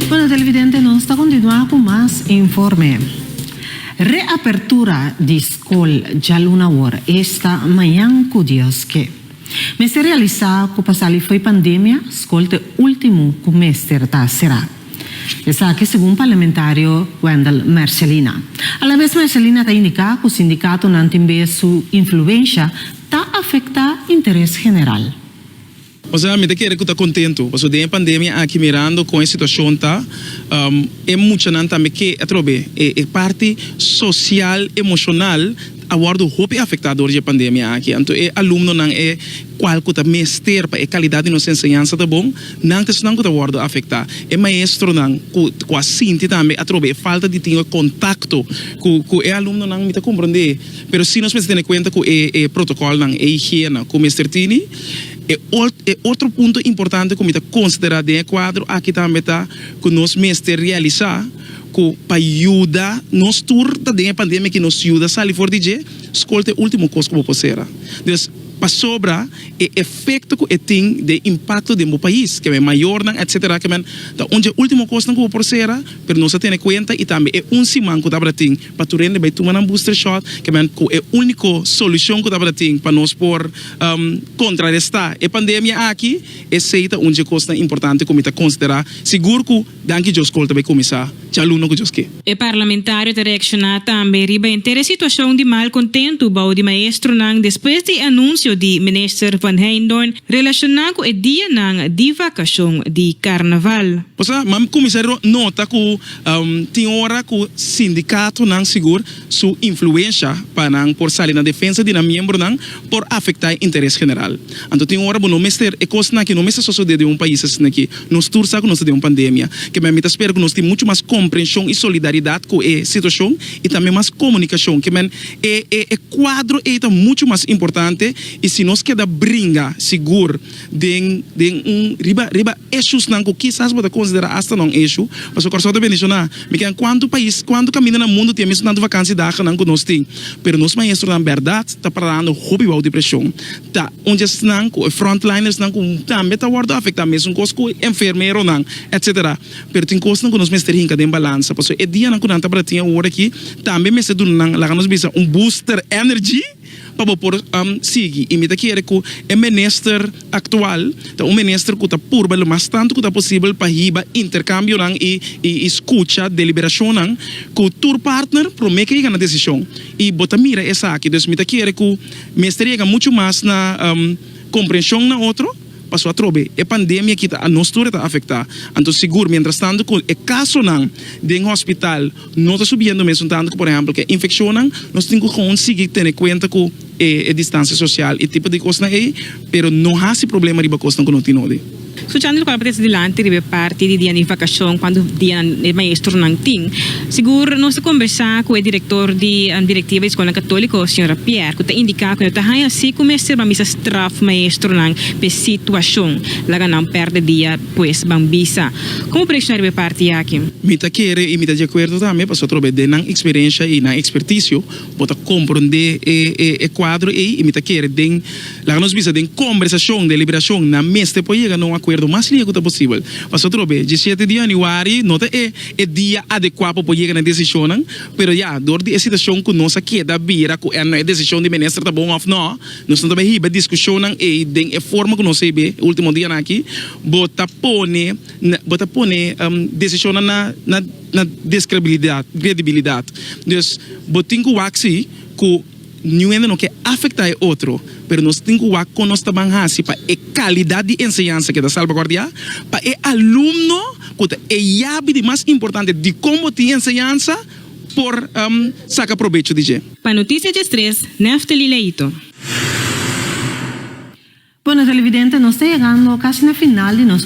Bueno televidente nos ta kontinuá ku mas informe. Reapertura di skol djaluna awor esta mañan ku Dios ke. Mester realisá ku pa sali fo'i pandemia, skol ta e último ku mester ta será. Esaki segun parlamentario Wendell Mercellina. Alabes Mercellina ta indiká ku sindikatonan tin b'e su influensha ta afektá interes general. Osea mi ta kere ku ta kontentu pasobra den e pandemia aki mirando kon e situashon ta, e muchanan tambe ke atrobe e parti sosial, emoshonal. A wòrdu hopi afektá dor dje pandemia aki, anto e alumnonan e kual ku ta mester pa e kalidat di nos enseñansa ta bon, nan ta esnan ku ta wòrdu afektá. E maestronan ku ku a sinti tambe atrobe e falta di tin e kontakto ku ku e alumnonan, mi ta komprondé, pero si nos mester tene kuenta ku e e protokòlnan, e higiena ku mester tini. E ot e otro punto importante ku mi ta konsiderá den e kuadro aki tambe ta ku nos mester realisá. cu pa yuda nos tur ta den e pandemia aki nos yuda sali for di dje, scol ta e ultimo cos cu bo por cera. Dus, pasobra e efecto cu e tin den impacto den bo pais, que men mayornan etc. Que men ta un dje ultimo cosnan cu bo por cera, pero nos a tene cuenta y tambe e un siman cu tabata tin pa tur hende bay tuma nan booster shot, que men cu e unico solucion cu tabata tin pa nos por contraresta e pandemia aki, esey ta un dje cosnan importante cu mi ta considera sigur cu. Danki Djos Kol ta bai kuminsá djaluno ku Djoske. E parlamentario ta reakshoná tambe riba henter e situashon di mal kontentu bou di maestronan despues di e anunsio di Minister Van Heijndorp relashoná ku e dianan di vakashon di Karnaval. Pasobra mam kuminsá nota ku tin ora ku sindikatonan sigur su influensha pa nan por sali na defensa di nan miembronan. por afecta e interes general. Anto tin un ora bo no mester e cos naki no mester sosode den un pais asinaki. Nos tur sa cu nos ta den un pandemia. Kemey mi ta spera cu nos tin mucho mas comprension y solidaridad cu e situacion y tambe mas comunicacion. Kemey e e e cuadro ey ta mucho mas importante y si nos keda bringa sigur. den den un riba riba issuesnan ku kisas bo ta konsiderá asta non-issue, pasobra Kòrsou ta bendisioná. Mi keda kuantu pais, kuantu kaminda na mundu tin e mesuntantu vakansi dagnan ku nos tin, pero nos maestronan bèrdat ta parando hopi bou di preshon. Ta un dje esnan ku e frontlinersnan ku tambe ta wòrdu afektá, mesunkos ku e enfermeronan, etsetera. Pero tin kosnan ku nos mester hinka den balansa, pasobra e dianan ku nan tabata tin awor aki tambe mester duna nan, laga nos bisa, un booster energy. pa bo por sigui. I mi ta kere ku e minister aktual ta un minister ku ta purba lo mas tantu ku ta posibel pa hiba interkambionan i i skucha deliberashonnan ku tur partner promé ke yega na desishon. I bo ta mira esaki. Dus mi ta kere ku mester yega muchu mas na komprenshon na otro. Paso atrobe, e pandemia kita anos tur e ta afektá. Anto sigur, mientrastantu ku e kasonan den hospital no ta subiendo mesun tantu ku por ehèmpel ku e infekshonnan, nos tin ku kon sigui tene kuenta ku e distansia sosial i tipo di kosnan ei, pero no hasi problema riba kosnan ku no tin nodi. Suchando loke a p'e ta dilanti riba e parti di dianan di vakashon, kuantu dianan e maestronan tin. Sigur nos a kombersá ku e direktor di direktiva di Eskolnan Katóliko, señora Pierre, ku ta indiká ku no ta haña si ku mester ban bisa straf maestronan pa e situashon laga nan pèrdè dia pues ban bisa. Komo por reakshonaré p'e parti aki? Mi ta kere i mi ta di akuerdo tambe pasobra atrobe den nan eksperensha i nan ekspertisio bo ta komprondé e kuadro ei i mi ta kere den, laga nos bisa den kombersashon, deliberashon nan mester por yega na un akuerdo mas lihe ku ta posibel. Pasobra atrobe, diesshete di yanüari no ta e. e dia adekua pa por yega na e desishonnan, pero ya dor di e situashon ku nos a keda bira ku el no e desishon di minister ta bon òf nò, nos no ta bay hiba e diskushonnan ei den e forma ku nos a hiba e ultimo dianan aki, bo ta pone bo ta pone desishonnan na na na deskredibilidat kredibilidat. Dus bo tin ku wak si ku. Niuwende no ke afektá e otro, pero nos tin ku wak kon nos ta ban hasi pa e kalidat di enseñansa keda salbaguardiá. Pa e alumno ku ta e yabi di mas importante dikon bo tin enseñansa por saka probecho di dje. Pa Notisia dje Stres, Neftali Leito. Bueno, televidente, nos ta yegando kashi na final di nos.